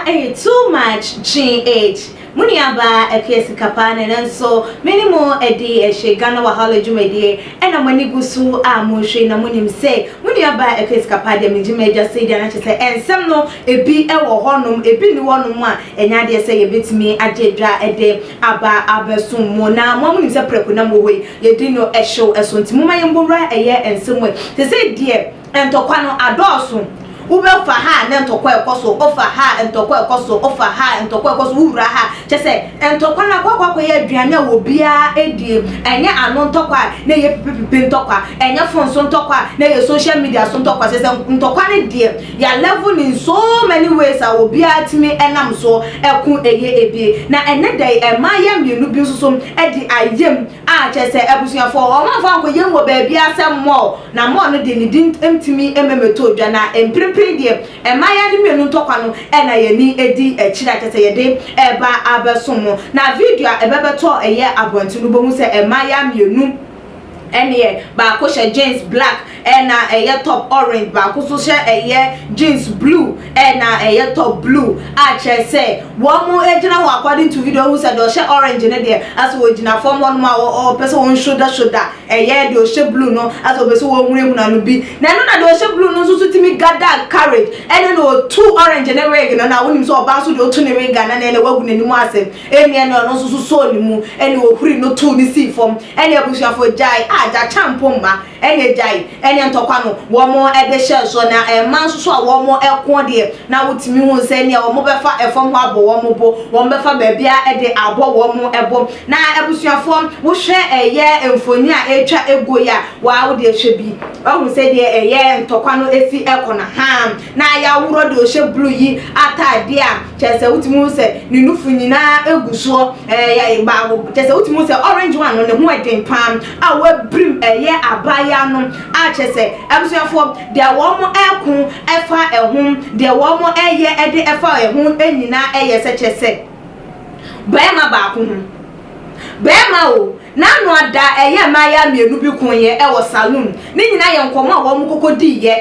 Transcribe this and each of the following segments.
ɛyɛ too much gh mo nuabaa apia sikapa ne nanso me ne mo adi ɛhyɛ ghana wahala dwumadie Ɛna mo ani gu so a monhwɛ na monim sɛ mo nua baa ɛkɔ asika paa deɛ megye m'agya sɛ deɛ na kyɛ sɛ ɛnsɛm no ɛbi ɛwɔ hɔ nom ɛbi nni hɔ nom a ɛnyɛ adeɛ sɛ yɛbɛtumi agye dwa ɛde aba abɛsom mo na mo a monim sɛ prɛko na mowɔ hɔ yi yɛdi no ɛhyew ɛso nti momma yɛmbɔ wura ɛyɛ nsɛm wei te sɛ deɛ Ntɔkwa no adɔɔso. Wobɛfa ha a na ntɔkwa a ɛkɔ so, wofa ha a ntɔkwa a ɛkɔ so, wofa ha a ntɔkwa a ɛkɔ so, wowura ha a. Kyerɛ sɛ, ntɔkwa no akɔ akɔyɛ aduane a obiara die. Ɛnyɛ ano ntɔkwa a na ɛyɛ pipipipi ntɔkwa, ɛnyɛ fon so ntɔkwa a na ɛyɛ social media so ntɔkwa. Kyerɛ sɛ, ntɔkwa no deɛ, yɛa level no in so many ways a obiara tumi nam so ko ɛyɛ bi. Na ɛnnɛ da yi, mmayewa mmienu bi nso so de ayam. A, kyerɛ sɛ abusuafoɔ, wɔmfa nkɔyɛ mu wɔ baabiara sɛ mall, na mall no deɛ ne din ntumi mmɛmɛtoo dwa, na mprempren deɛ mmaayaa no mmienu ntɔkwa no na yɛn ani di akyire a kyerɛ sɛ yɛde reba abɛsom mo. Na video a ɛbɛbɛtɔ ɛyɛ abɔnten no wobɛhu sɛ mmaayaa mmienu neɛ, baako hyɛ jeans black, ɛna ɛyɛ top orange baako nso hyɛ ɛyɛ jeans blue ɛna ɛyɛ top blue a kyerɛ sɛ wɔn gyina hɔ according to video ɔhu sɛ deɛ ɔhyɛ orange no deɛ asɛ ɔgyina fam hɔ nom a ɔpɛ sɛ wɔn shoulder shoulder ɛyɛ deɛ ɔhyɛ blue no asɛ ɔpɛ sɛ wɔn hunahuna no bi na ɛno na deɛ ɔhyɛ blue no nso so tumi gather courage ɛne na ɔtu orange ne wig no na wonim sɛ ɔbaa nso deɛ ɔtu ne wig anan ɛna wagu n'anim asɛ ɛne ɛne ɔno nso so sɔɔ ne mu ɛne ɔhuri no too ne sii fam ɛne abusuafoɔ gyae a gya kyampo mma ɛne agyae ɛne ntɔkwa no wɔn de hyɛɛ soɔ na ɛma nso so a wɔn ɛko deɛ na wotumi hu sɛ nea wɔn bɛfa ɛfam hɔ abɔ wɔn bo wɔn bɛfa baabia ɛde abɔ wɔn ɛbo na abusuafoɔ wohwɛ ɛyɛ mfoni a ɛtwa ɛguo yi a waa wode ɛhwɛ bi wahu sɛ deɛ ɛyɛ ntɔkwa no ɛsi ɛkɔ no haa na yaworɔ deɛ ɔhyɛ blue yi ataadeɛ a kyɛ sɛ wotumi hu sɛ ne nufo nyinaa ɛgu soɔ ɛyɛ baako kyɛ sɛ wotumi hu sɛ orange one no ne ho ɛden paa a wabirim ɛyɛ abaayaa no a kyerɛ sɛ abusuafoɔ deɛ wɔn mo ɛko ɛfa ɛho deɛ wɔn mo ɛyɛ ɛde ɛfa ɛho ɛnyinaa ɛyɛ sɛ kyerɛ sɛ bɛɛma baako ho bɛɛma o n'ano ada ɛyɛ mmaayaa mmienu bi ko yɛ ɛwɔ saloon ne nyinaa yɛ nkɔmɔ a wɔn mo kɔkɔ dii yɛ.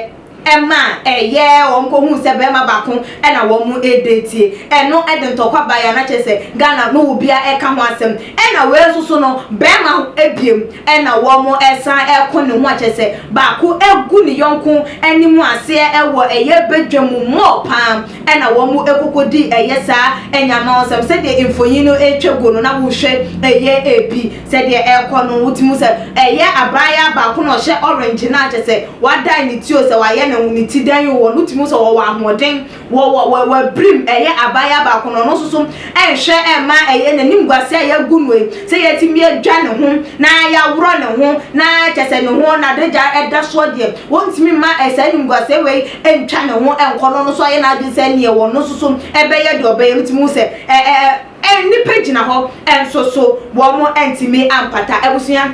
ma ɛyɛɛ wɔn kɔhuu sɛ bɛɛma baako na wɔn ɛdatie, ɛno de ntɔkwa baeɛ a na kyerɛ sɛ Ghana no wɔ bia ɛka ho asɛm, ɛna wei nso so no bɛɛma biom na wɔn ɛsan ɛko ne ho a kyerɛ sɛ baako ɛgu ne yɔnko anim aseɛ ɛwɔ ɛyɛ badwa mu more paa ɛna wɔn ɛkɔkɔdi ɛyɛ saa ɛnyamawosɛm sɛdeɛ mfonin no ɛtwa guo no na wo hwɛ ɛyɛ ɛbi Sɛ deɛ ɛrekɔ no wote mu sɛ ɛyɛ abraayaa baako na ɔhyɛ orange no a kyerɛ sɛ wadae ne ti o, sɛ wayɛ ne ho ne ti dɛn o, ɔno wote mu sɛ ɔwɔ ahoɔden wɔ wɔ wɔ w'abirim, ɛyɛ abaayaa baako na ɔno nso so nhwɛ mma ɛyɛ n'animguaseɛ a yɛagu no yi, sɛ yɛatumi adwa ne ho na yɛaworɔ ne ho na kyerɛ sɛ ne ho n'adagya da soɔ deɛ, wɔntumi mma saa animguaseɛ wei ntwa ne ho nkɔ na ɔno nso ayɛ n'adwene sɛ neɛ ɔno nso so bɛyɛ deɛ ɔbɛyɛ no wote mu sɛ ɛ ɛ. Nnipa gyina hɔ nso so wɔntumi ampata. Abusua,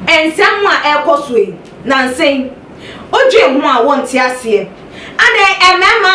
nsɛm a ɛrekɔ so yi, nansa yi, wodwen ho a wonte aseɛ. Adɛn, mmarima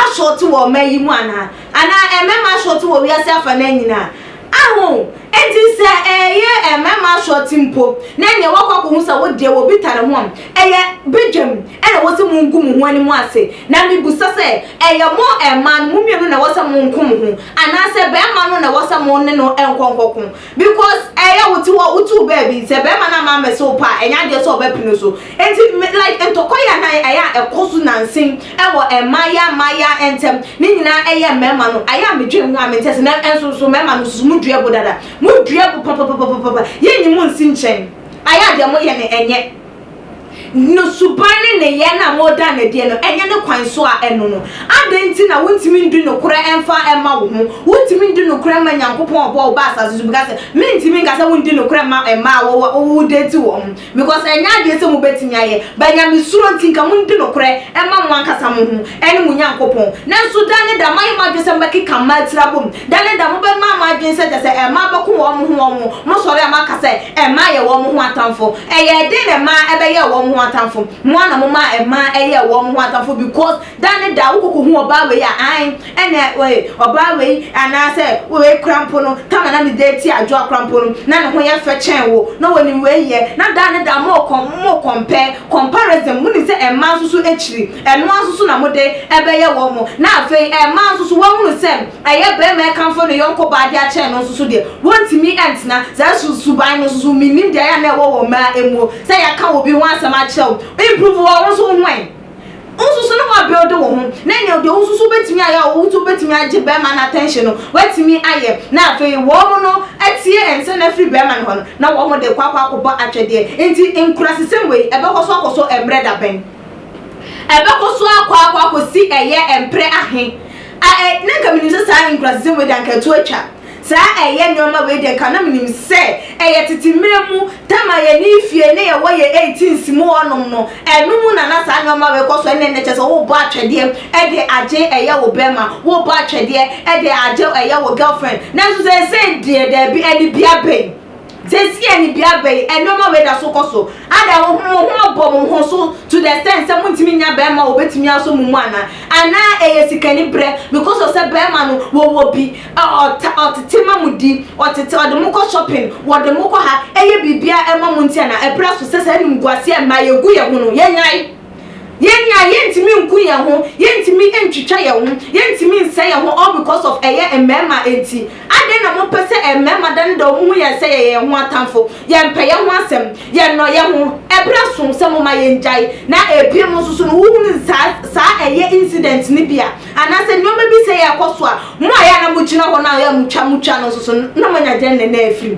asɔɔte wɔ ɔman yi mu anaa? Anaa mmarima asɔɔte wɔ wiase afa no nyinaa? Aho, enti sɛ ɛyɛ mmarima asɔɔte mpo, na nea woakɔ akɔhu sɛ wodeɛ wɔbi tare ho a, ɛyɛ badwam. Ɛna wɔse mongu mo ho anim ase, na mebisa sɛ, ɛyɛ mo mmaa no, mo mmienu na ɛwɔ sɛ monko mo ho, anaasɛ barima no na ɛwɔ sɛ mo ne no nkɔ nkɔko? Because ɛyɛ wo te hɔ, wote wo baabi, sɛ barima no amma ammɛse wo pɛ a, ɛnyɛ adeɛ sɛ ɔbɛpene wo so. Enti me, like ntɔkwa yi a na ɛyɛ a ɛkɔ so nansen wɔ mmaayaa mmaayaa ntɛm, ne nyinaa ɛyɛ mmarima no, ayɛ a medwen ho a mente ase, na ɛnso nso mmarima no nso so, modua bo dada, modua bo papapapapapa, yɛnyi mo nsi nkyɛn, ayɛ a deɛ moyɛ no ɛnyɛ. no suban ne nneyɛe no a moda no adi no nyɛ ne kwan so a, ɛno no, adɛn nti na wuntumi ndi nokorɛ mfa mma wo ho? Wutumi di nokorɛ ma Nyankopɔn a ɔbɔɔ wo baa asase so bi ka sɛ, Merentumi nka sɛ wondi nokorɛ mma mma a wɔwɔ wo date wɔn ho, because ɛnyɛ adeɛ sɛ mobɛtumi ayɛ, but Nyamesuro nti nka mondi nokorɛ mma mo ankasa mo ho. ne mo Nyankopɔn. Nanso da ne da moayɛ mo adwene sɛ mobɛkeka mmaa atirabɔ mu, da ne da mobɛma mo adwene sɛ kyerɛ sɛ mmaa bɛko wɔn ho wɔn ho, mosɔre a moaka sɛ mmaa yɛ wɔn ho atamfo. Ɛyɛɛ dɛn na mmaa bɛyɛɛ wɔn ho atamfo? Mo ara na momaa mmaa yɛɛ wɔn ho atamfo because da ne da wokɔkɔhu ɔbaa wei a, ae, ɛnna ee, ɔbaa wei anaasɛ wei kora mpo no, Tama na ne de tia Adwoa kora mpo no, na ne ho yɛ fɛ kyɛn wo, na wɔnim wei yɛ, na da ne da mokɔ, mo compare, comparison, monim sɛ mmaa nso so akyiri. Ɛno ara nso so na mode bɛyɛ wɔn mo, na afei ɛmma nso so wɔahunu sɛ ɛyɛ barima rekamfo ne yɔnko baa de akyɛn no nso so deɛ, wɔntumi ntena. Saa su suban no nso so, mennim deɛ ayɛ a na ɛwɔ wɔ mmaa mmuo, sɛ yɛaka obi ho asɛm akyerɛ wo, improve wɔ wo nso ho ɛ? Wo nso so na woabuild wo ho, na nea deɛ wo nso so wobɛtumi ayɛ a wo nso wobɛtumi agye barima no attention no, woatumi ayɛ, na afei wɔn no atie nsɛn afiri barima no hɔ no, na wɔn de rekɔ akɔ akɔbɔ atwɛdeɛ. Nti nkurasesɛm wei, ɛbɛkɔ so akɔ so mmerɛ da bɛn? Ɛbɛkɔ so akɔ akɔ akɔsi ɛyɛ mprɛ ahe? A ɛ na nka menim sɛ saa nkurasasɛm wei deɛ anka ɛto atwa. Saa ɛyɛ nneɛma wei deɛ nka na menim sɛ ɛyɛ tete mmerɛ mu tam a yɛn efie na yɛwɔ yɛn eighteenth mu hɔ nom no ɛno mu na na saa nneɛma wei kɔ so ɛnɛ nnɛ kyɛ sɛ wobɔ atwɛdeɛ ɛde agye ɛyɛ wo bɛrima wobɔ atwɛdeɛ ɛde agye ɛyɛ wo girlfriend nanso seesei deɛ daabi ɛde bia bɛn Seesei a nibea aba yi, nneɛma wei da so kɔ so. Ada wo ho wo ho abɔ mo ho so to the extent sɛ montumi nnya barima a obetumi asɔ mo mu anaa? Anaa ɛyɛ sikaniberɛ because of sɛ barima no wɔwɔ bi, ɔ, ɔta, ɔtete ma mo di, ɔtete, ɔde mo kɔ shopping, wɔde mo kɔ ha, ɛyɛ biribiara ma mo nti anaa? Ɛberɛ aso sɛ saa animguaseɛ a mmaa yɛgu yɛn ho no, yɛnnyae. Yɛn a yɛntumi nku yɛn ho, yɛntumi ntwitwa yɛn ho, yɛntumi nsɛe yɛn ho all because of ɛyɛ mmarima nti. Adɛn na mopɛ sɛ mmarima da ne da wɔn hu yɛn sɛ yɛyɛ yɛn ho atamfo? Yɛmpɛ yɛn ho asɛm, yɛnnɔ yɛn ho. Ɛberɛ aso sɛ moma yɛn gyae. Na ɛbiem nso so no wohunu saa saa ɛyɛ incident no bi a, anaasɛ nneɛma bi sɛ ɛrekɔ so a, mo a ɛyɛ a na mogyina hɔ no a ɛyɛ a motwa motwa no nso so no na moanya dɛn na ɛna afiri mu?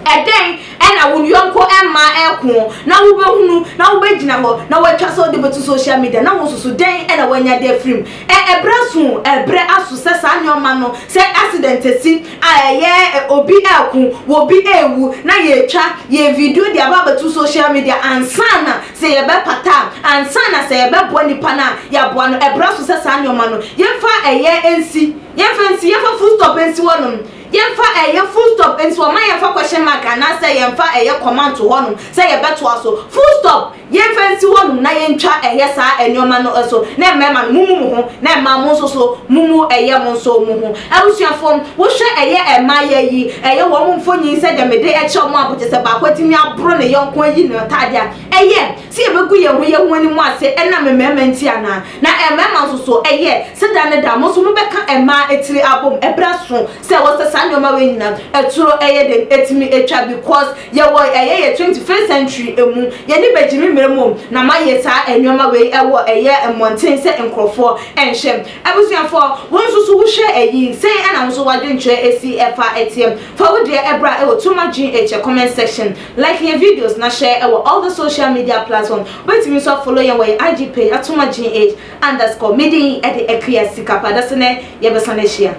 Ɛdɛn na wo yɔnko mmaa reko na wobɛhunu na wobɛgyina hɔ na woatwa sɛ wode bɛto social media na wosusu dɛn na woanya de afirim? Ɛ, ɛberɛ aso o, ɛberɛ aso sɛ saa nneɛma no, sɛ accident asi a ɛyɛ obi reko, obi rewu na yɛretwa yɛn video de aba abɛto social media ansa na sɛ yɛbɛpata a, ansa na sɛ yɛbɛboa nipa no a yɛaboa no, ɛberɛ aso sɛ saa nneɛma no yɛmfa ɛyɛ nsi, yɛmfa nsi, yɛmfa full stop nsi hɔnom. Yɛmfa ɛyɛ full stop nso a, mma yɛmfa question mark anaasɛ yɛmfa ɛyɛ kɔma nto hɔnom sɛ yɛbɛtoa so. Full stop, yɛmfa nsi hɔnom na yɛntwa ɛyɛ saa nneɛma no so. Na mmarima no, mommu mo ho, na mmaa mo nso so, mommu ɛyɛ mo nso mo ho. Abusuafo, wohwɛ ɛyɛ mmayewa yi, ɛyɛ wɔn mfonini sɛdeɛ mede kyerɛ mo a, bo te sɛ baako atumi aboro ne yɔnko ayi ne ntaadeɛ a, ɛyɛ sɛ yɛbɛgu yɛn ho yɛn ho anim ase ɛnam mmarima nti anaa? Na mmarima nso so, ɛyɛ sɛ da ne da mo nso mobɛka mmaa tiri abom, ɛberɛ aso sɛ ɛwɔ sɛ saa nnoɔma wei nyinaa aturo ɛyɛ dɛn atumi atwa because yɛwɔ ɛyɛ yɛ twenty first century mu, yɛn ani bɛgye me mmerɛ mmom na moayɛ saa nnoɔma wei ɛwɔ ɛyɛ mmɔnten sɛ nkorɔfoɔ nhwɛ. Abusuafoɔ, wo nso so wohwɛ ɛyi, sɛn ɛna wo nso w'adwenkyerɛ asi ɛfa ɛteɛ? Fa wo deɛ ɛbra ɛwɔ Too Much Gene Ɛkyɛ comment section, like yɛn videos na share ɛwɔ all the social media platform. Wobɛtumi nso afollow yɛn wɔ yɛn IG page Atoma GH underscore. Me din de Akua Sika Pa. Dase nnɛ yɛbɛsan ahyia.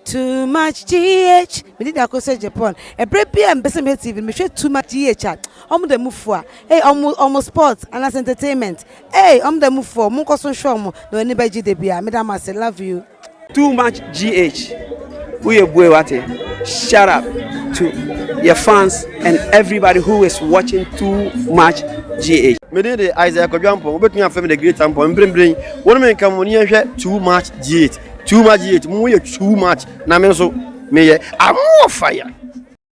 Too much GH, me din de Akosua Agyapong. Ɛberɛ biara a mepɛsɛ mehwɛ TV no, mehwɛ Too much GH a, wɔn da mu fua. Ei, wɔn, wɔn sports anaasɛ entertainment, ei, wɔn da mu fua o, monkɔ so nhwɛ wɔn na wɔn ani bɛgye da biara. Meda mo ase, love you. Too much GH woyɛ bue wate shut up to yɛ fans and everybody who is watching too much GH. Me din de Isaiah Kwadwo Ampong, wobɛtumi afrɛ me the great Ampong, mprempren wo ne me nka mmɔne yɛnhwɛ too much GH, too much GH, mo yɛ too much na me nso meyɛ I'm more fire.